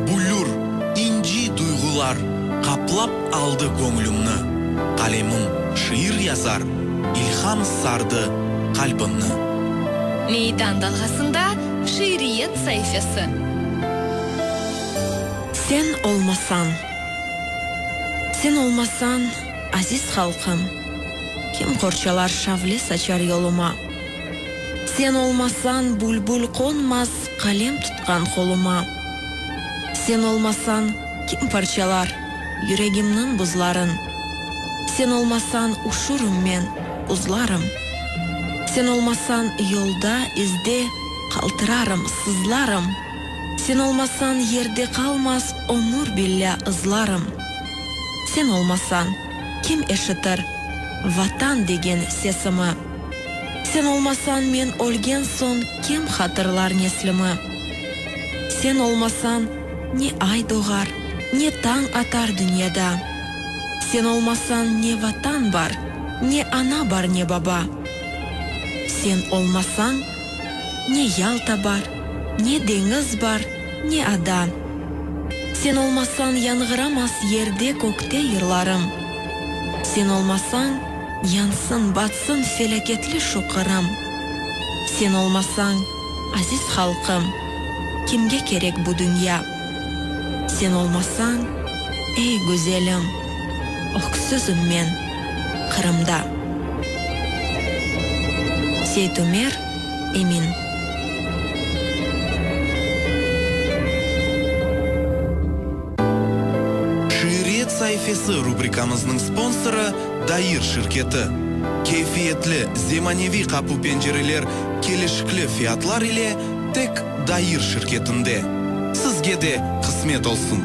Büllür, inci duyğular qaplap aldı göñlümni, Qalemim şiir yazar, ilham sardı qalbimni. Meydan dalğasında şiiriyet saifesi. Sen olmasañ, sen olmasañ. Aziz halqım, kim qorçalar şavle saçar yoluma? Sen olmasañ, bülbül qonmaz qalem tutqan qoluma. Sen olmasañ, kim parçalar yüregimniñ buzların? Sen olmasañ, uşurım men, uzlarım. Sen olmasañ, yolda, izde qaltırarım, sızlarım. Sen olmasañ, yerde qalmaz ömür billâ ızlarım. Sen olmasañ, kim eşitir. Vatan degen sesimi? Sen olmasañ, men ölgen soñ, kim hatırlar neslimi? Sen olmasañ, ne ay doğar, ne tañ atar dünyada. Sen olmasañ, ne Vatan bar, ne ana bar, ne baba. Sen olmasañ, ne Yalta bar, ne deñiz bar, Ne ada. Sen olmasañ yanğıramas yerde, kökte yırlarım. Sen olmasañ, yansın, batsın felâketli şu Qırım. Sen olmasañ, aziz halqım, kimge kerek bu dünya? Sen olmasañ, ey, güzelim, öksüzim men Qırımda. Seit Ümer. Emin. Şiiriyet saifesi rubrikamıznıñ sponsorı, Dair şirketi. Keyfiyetli, zemaneviy qapu-pencereler kelişikli fiyatlar ile tek Dair şirketinde. Sizge de qısmet olsun!